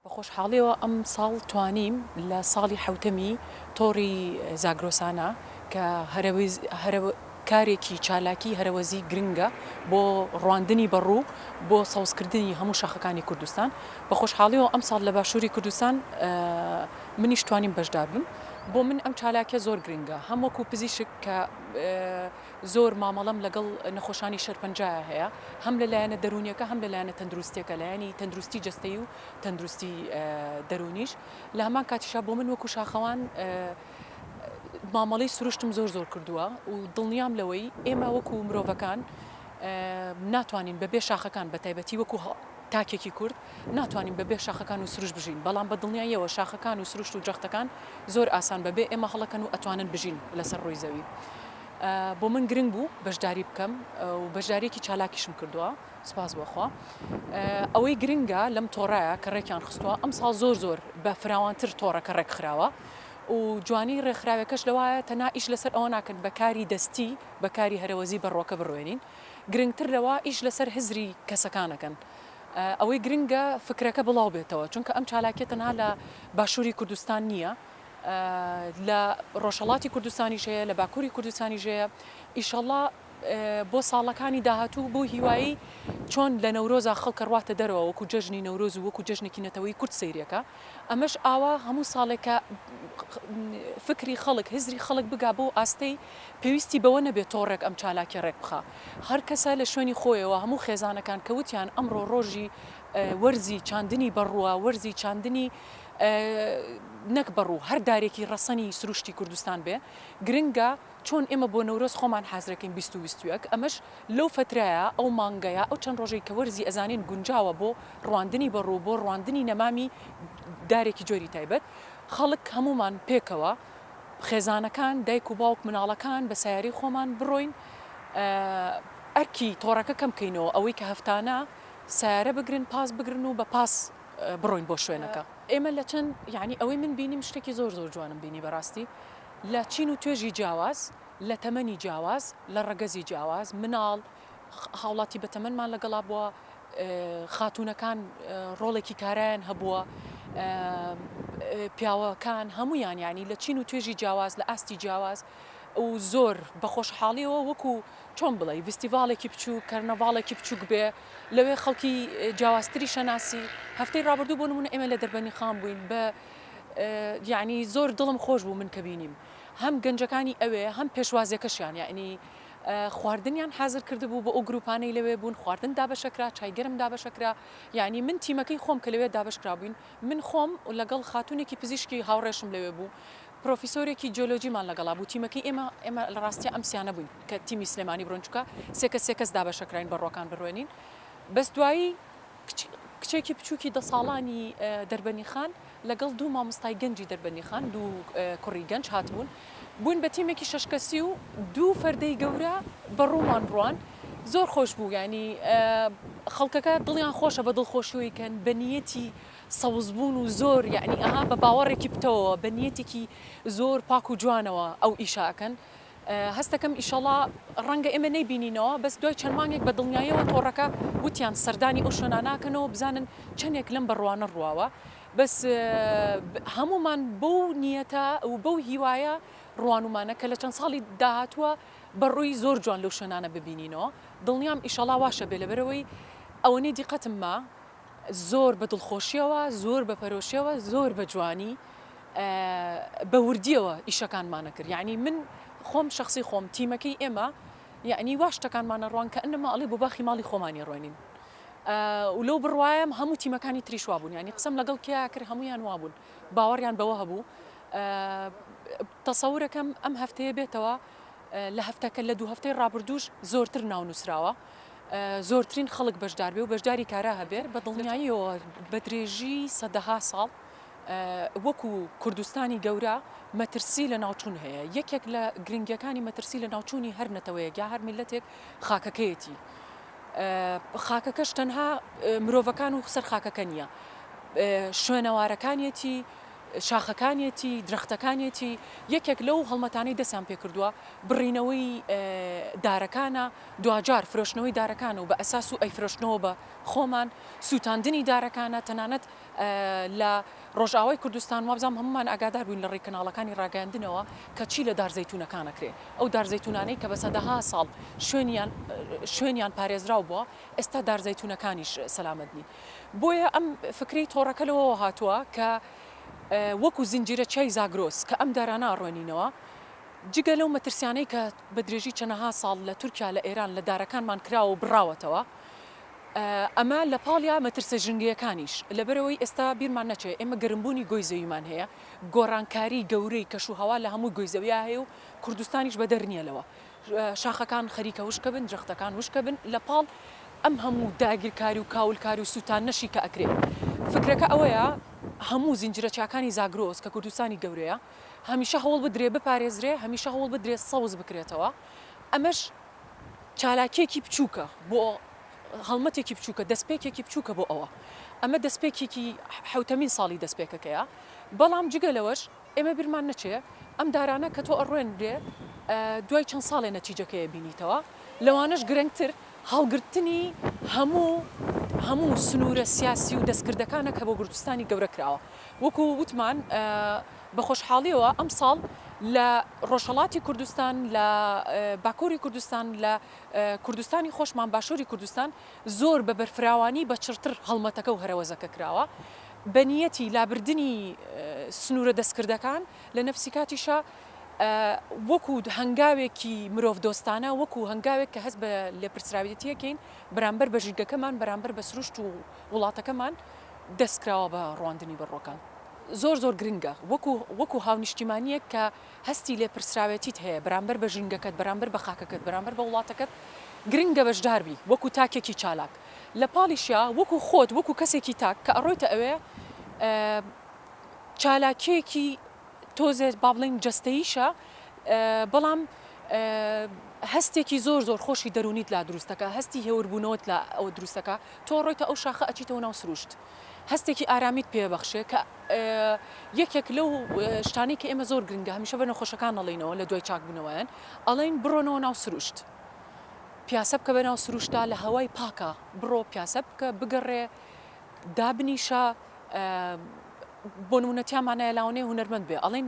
بە خۆشحاڵیەوە ئەم ساڵ توانیم لە ساڵی حەوتەمی تۆڕی زاگرۆسانا کە هەرە کارێکی چالاکی هەرەوەزی گرنگە بۆ ڕواندنی بەڕوو بۆ سەوزکردنی هەموو شاخەکانی کوردستان بە خۆشحاڵیەوە ئەم ساڵ لە باشووری کوردستان منیش توانیم بەشدار بم بۆ من ئەم چالاکە زۆر گرنگە هەم وەکو پزیشک کە زۆر مامەڵەم لەگەڵ نەخۆشانی شەرپەنجەیە هەیە هەم لە لایەنە دەروونیەکە هەم لە لایەنە تەندروستیەکە لایەنی تەندروستی جەستەی و تەندروستی دەروونیش لە هەمان کاتیشا بۆ من وەکو شاخەوان مامەڵەی سروشتم زۆر زۆر کردووە و دڵنیام لەوەی ئێمە وەکو مرۆڤەکان ناتوانین بە بێ شاخەکان بە تایبەتی وەکو تاکێکی کورد ناتوانین بە بێ شاخەکان و سروش بژین بەڵام بە دڵنیاییەوە شاخەکان و سروشت و جەختەکان زۆر ئاسان بە بێ ئێمە هەڵەکەن و ئەتوانن بژین لەسەر ڕووی زەوی. بۆ من گرنگ بوو بەشداری بکەم و بەشداریەکی چالاکیشم کردووە سپاس بۆخوا ئەوەی گرنگە لەم تۆڕایە کە ڕێکیان خستووە ئەم ساڵ زۆر زۆر بە فراوانتر تۆڕەکە ڕێکخراوە و جوانی ڕێکخراوەکەش لەوایە تەنا ئیش لەسەر ئەوە ناکەن بەکاری دەستی بەکاری هەرەوەزی بەڕۆکە بڕوێنین گرنگتر لەوە ئیش لەسەر هزری کەسەکانەکەن ئەوەی گرنگە فکرەکە بڵاو بێتەوە چونکە ئەم چالاکیە تەنها لە باشووری کوردستان نییە. لە ڕۆژهەڵاتی کوردستانیش هەیە لە باکووری کوردستانیش هەیە ئیشەڵا بۆ ساڵەکانی داهاتوو بۆ هیوایی چۆن لە نەورۆزا خەڵکە ڕاتە دەرەوە وەکو جەژنی نەورۆز و وەکو جەژنێکی نەتەوەی کورد سیرەکە ئەمەش ئاوا هەموو ساڵێکە فکری خەڵک هزری خەڵک بگا بۆ ئاستەی پێویستی بەوە نەبێت تۆڕێک ئەم چالاکی ڕێک بخە هەر کەسە لە شوێنی خۆیەوە هەموو خێزانەکان کەوتیان ئەمڕۆ ڕۆژی وەرزی چاندنی بەڕووە وەرزی چاندنی نەک بەڕ و هەر دارێکی ڕەسەنی سروشتی کوردستان بێ گرنگە چۆن ئێمە بۆ نەورۆز خۆمان حازرەکەین بیست و بیست و یەک ئەمەش لەو فەترەیە ئەو مانگەیە ئەو چەند ڕۆژەی کە وەرزی ئەزانین گونجاوە بۆ ڕواندنی بەڕ و بۆ ڕواندنی نەمامی دارێکی جۆری تایبەت خەڵک هەموومان پێکەوە خێزانەکان دایک و باوک مناڵەکان بە سەیارەی خۆمان بڕۆین ئەرکی تۆڕەکە کەم کەینەوە ئەوەی کە هەفتانە سەیارە بگرن پاس بگرن و بە پاس بڕۆین بۆ شوێنەکە. ئێمە لە چەند یانی ئەوەی من بینیم شتێکی زۆر زۆر جوانم بینی بەراستی لە چین و توێژی جیاواز لە تەمەنی جیاواز لە ڕەگەزی جیاواز مناڵ هاوڵاتی بە تەمەنمان لەگەڵا بووە خاتوونەکان ڕۆڵێکی کارایان هەبووە پیاوەکان هەموویان یانی لە چین و توێژی جیاواز لە ئاستی جیاواز و زۆر بە خۆشحاڵیەوە وەکو چۆن بڵێی ڤیستیڤاڵێکی بچووک کەرنەڤاڵێکی بچووک بێ لەوێ خەڵکی جیاوازتری شەناسی هەفتەی ڕابردوو بۆ نمونە ئێمە لە دەربەنی خان بووین بە یعنی زۆر دڵم خۆش بوو من کە بینیم هەم گەنجەکانی ئەوێ هەم پێشوازیەکەشیان یعنی خواردنیان حازر کردبوو بۆ ئەو گروپانەی لەوێ بوون خواردن دابەشەکرا چایگەرم دابەشەکرا یعنی من تیمەکەی خۆم کە لەوێ دابشکرابووین من خۆم و لەگەڵ خاتونێکی پزیشکی هاوڕێشم لەوێ بوو پرۆفیسۆرێکی جیۆلۆجیمان لەگەڵا بوو تیمەکەی ئێمە ئێمە لە ڕاستیا ئەم سیانە بووین کە تیمی سلێمانی بڕۆین چونکە سێ کەس سێ کەس دابەشە کراین بە ڕووەکان بڕوێنین بەس دوایی کچ کچێکی بچووکی دە ساڵانی دەربەنی خان لەگەڵ دوو مامۆستای گەنجی دەربەنی خان دوو کوڕی گەنج هاتبوون بووین بە تیمێکی شەش کەسی و دوو فەردەی گەورە بە ڕوومان بڕوان زۆر خۆش بوو ینی خەڵکەکە دڵیان خۆشە بە دڵخۆشیەوەی کەن بە نیەتی سەوز بوون و زۆر یەعنی ئەها بە باوەڕێکی پتەوەوە بە نیەتێکی زۆر پاک و جوانەوە ئەو ئیشە ئەکەن هەستەکەم ئیشەڵا ڕەنگە ئێمە نەیبینینەوە بەس دوای چەند مانگێک بە دڵنیایەوە تۆڕەکە وتیان سەردانی ئەو شوێنانە ئەکەنەوە بزانن چەندێک لەم بەڕوانە ڕواوە بەس هەموومان بەو نیەتە و بەو هیوایە ڕوانومانە کە لە چەند ساڵی داهاتووە بەڕووی زۆر جوان لەو شوێنانە ببینینەوە دڵنیام ئیشەڵا واشە بێ لەبەرەوەی ئەوەنەی دیقەتم ما زۆر بە دڵخۆشیەوە، زۆر بە پەرۆشیەوە، زۆر بە جوانی بە وردیەوە ئیشەکانمانە کرد یاعنی من خۆم شخصی خۆم تیمەکەی ئێمە یعنی وا شتەکانمانە ڕوان کە ئەنەما ئەڵێ بۆ باخی ماڵی خۆمانی ڕۆنین و لەو بڕوایم هەموو تیمەکانی تریش وابوون ینی قسم لەگەڵ کیا کرد هەمویان وابوون باوەڕیان بەوە هەبوو تەسەورەکەم ئەم هەفتەیە بێتەوە لە هەفتەکە لە دوو هەفتەی ڕابردووش زۆرتر ناو نووسراوە. زۆرترین خەڵک بەشدار بێ و بەشداری کارا هەبێ، بە دڵنیاییەوە بە درێژی سەدەها ساڵ وەکو کوردستانی گەورە مەترسی لەناوچوون هەیە، یەکێک لە گرنگیەکانی مەترسی لەناوچوونی هەر نەتەوەیەک یا هەر میللەتێک خاکەکەیەتی، خاکەکەش تەنها مرۆڤەکان و سەر خاکەکە نیە، شوێنەوارەکانیەتی، شاخەکانیەتی، درەختەکانیەتی، یەکێک لەو هەڵمەتانەی دەستیان پێکردووە بڕینەوەی دارەکانە، دواجار فرۆشتنەوەی دارەکانە و بە ئەساس و ئەیفرۆشنەوە بە خۆمان، سووتاندنی دارەکانە تەنانەت لە ڕۆژئاوای کوردستان وابزانم هەموومان ئاگادار بووین لەڕێی کەناڵەکانی ڕاگەیاندنەوە کە چی لە دار زەیتوونەکان ئەکرێ ئەو دار زەیتوونانەی کە بە سەدەها ساڵ شوێنیان شوێنیان پارێزراو بووە ئێستا دار زەیتوونەکانیش سەلامەت نین بۆیە ئەم فکرەی تۆڕەکە لەوەوە هاتووە کە وەکو زنجیرە چیای زاگرۆس کە ئەم دارانە ئەڕوێنینەوە جگە لەو مەترسیانەی کە بە درێژی چەنەها ساڵ لە تورکیا لە ئێران لە دارەکانمان کراوە و بڕاوەتەوە ئەمە لە پاڵیا مەترسە ژنگەیەکانیش لەبەرەوەی ئێستا بیرمان نەچێ ئێمە گەرمبوونی گۆی زەویمان هەیە گۆڕانکاری گەورەی کەش و هەوا لە هەموو گۆی زەویا هەیە و کوردستانیش بەدەر نییە لەوە شاخەکان خەریکە وشکە بن درەختەکان وشکە بن لە پاڵ ئەم هەموو داگیرکاری و کاولکاری و سووتان نەشی کە ئەکرێ فکرەکە ئەوەیە هەموو زنجرە چاکانی زاگرۆس کە کوردستانی گەورەیە هەمیشە هەوڵ بدرێ بپارێزرێ، هەمیشە هەوڵ بدرێ سەوز بکرێتەوە، ئەمەش چالاکییەکی بچووکە بۆ هەڵمەتێکی بچووکە، دەستپێکێکی بچووکە بۆ ئەوە. ئەمە دەستپێکێکی حەوتەمین ساڵی دەستپێکەکەیە، بەڵام جگە لەوەش ئێمە بیرمان نەچێ ئەم دارانە کە تۆ ئەڕوێنرێ دوای چەند ساڵێ نەتیجەکەی ئەبینیتەوە، لەوانەش گرنگتر هەڵگرتنی هەموو هەموو سنوورە سیاسی و دەستکردەکانە کە بۆ کوردستانی گەورە کراوە، وەکو وتمان بە خۆشحاڵیەوە ئەمساڵ لە ڕۆژهەڵاتی کوردستان لە باکوری کوردستان لە کوردستانی خۆشمان باشوری کوردستان زۆر بە بەرفراوانی بە چڕتر هەڵمەتەکە و هەرەوەزەکە کراوە بە نیەتی لابردنی سنوورە دەستکردەکان لە نەفسی کاتیشە وەکو هەنگاوێکی مرۆڤ دۆستانە وەکو هەنگاوێک کە هەست بە لێپرسراویەتیەکەین بەرامبەر بە ژینگەکەمان بەرامبەر بە سروشت و وڵاتەکەمان دەست کراوە بە ڕواندنی بەڕوەکان زۆر زۆر گرنگە وەکو وەکو هاونیشتیمانیەک کە هەستی لێ پرسراوێتیت هەیە بەرامبەر بە ژینگەکەت بەرامبەر بە خاکەکەت بەرامبەر بە وڵاتەکەت گرنگە بەشداربی وەکو تاکێکی چالاک لە پاڵیشیا وەکو خۆت وەکو کەسێکی تاک کە ئەڕۆیتە ئەوێ چالاکیەکی تۆزێ با بڵێین جەستەییشە بەڵام هەستێکی زۆر زۆر خۆشی دەرونیت لا دروستەکە هەستی هێوربوونەوەت لە ئەوە دروستەکە تۆ ڕۆیتە ئەو شاخە ئەچیتەوە ناو سروشت هەستێکی ئارامیت پێبەخشێ کە یەکێک لەو شتانی کە ئێمە زۆر گرنگە هەمیشە بە نەخۆشەکان نەڵینەوە لە دوای چاکبوونەوەیان ئەڵین بڕۆنەوە ناو سروشت پیاسە بکە بە ناو سروشتا لە هەوای پاکە بڕۆ پیاسە بکە بگەڕێ دابنیشە بۆنمونە تیامانایە لاوەنەیە هونەرمەند بێ ئەڵین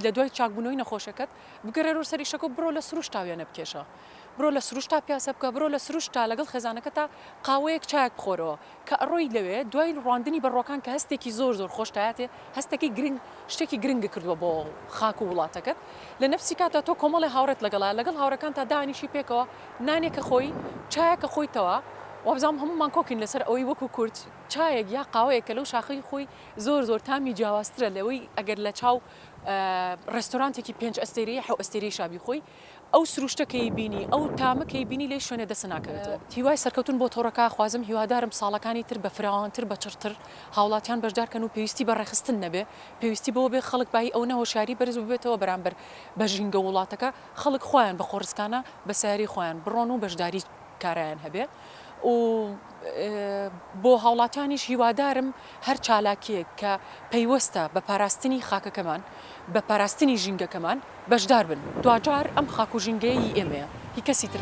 لە دوای چاکبوونەوەی نەخۆشەکەت بگەڕێرۆ سەریشەکە بڕۆ لە سروش تاوێنە بکێشە بڕۆ لە سروش تا پیاسە بکە بڕۆ لە سروش تا لەگەڵ خێزانەکە تا قاوەیەک چاک بخۆرەوە کە ئەڕۆی لەوێ دوای ڕواندنی بەڕۆکان کە هەستێکی زۆر زۆر خۆشتایاتێ هەستەکەی گرنگ شتێکی گرنگ کردووە بۆ خاک و وڵاتەکەت لە نەفسی کاتە تۆ کۆمەڵی هاوڕێت لەگەڵا لەگەڵ هاوڕەکان تا دانیشی پێکەوە نانێکە خۆی، چایەکە خۆی تەوا. وابزانم هەموومان کۆکین لەسەر ئەوەی وەکو کورد چایەک یا قاوەیەک کە لەو شاخەی خۆی زۆر زۆر تامی جیاوازترە لەوەی ئەگەر لە چاو ڕێستۆرانتێکی پێنج ئەستێرەی حەو ئەستێرەی شا بیخۆی ئەو سروشتە کەی بینی ئەو تامە کەی بینی لێی شوێنێ دەستە ناکەوێتەوە. هیوای سەرکەوتن بۆ تۆڕەکە ئەخوازم، هیوادارم ساڵەکانی تر بە فراوانتر بە چڕتر هاوڵاتیان بەشدار کەن و پێویستی بە ڕێکخستن نەبێ، پێویستی بەوە بێ خەڵک بایی ئەونە هۆشیاری بەرز ببێتەوە بەرامبەر بە ژینگە و وڵاتەکە. خەڵک خۆیان بە خۆڕسکانە بە سەیارەی خۆیان بڕۆن و بەشداری کارایان هەبێ و بۆ هاوڵاتیانیش هیوادارم هەر چالاکیەک کە پەیوەستە بە پاراستنی خاکەکەمان بە پاراستنی ژینگەکەمان بەشدار بن دواجار ئەم خاک و ژینگەیە ی ئێمەیە هی کەسی تر.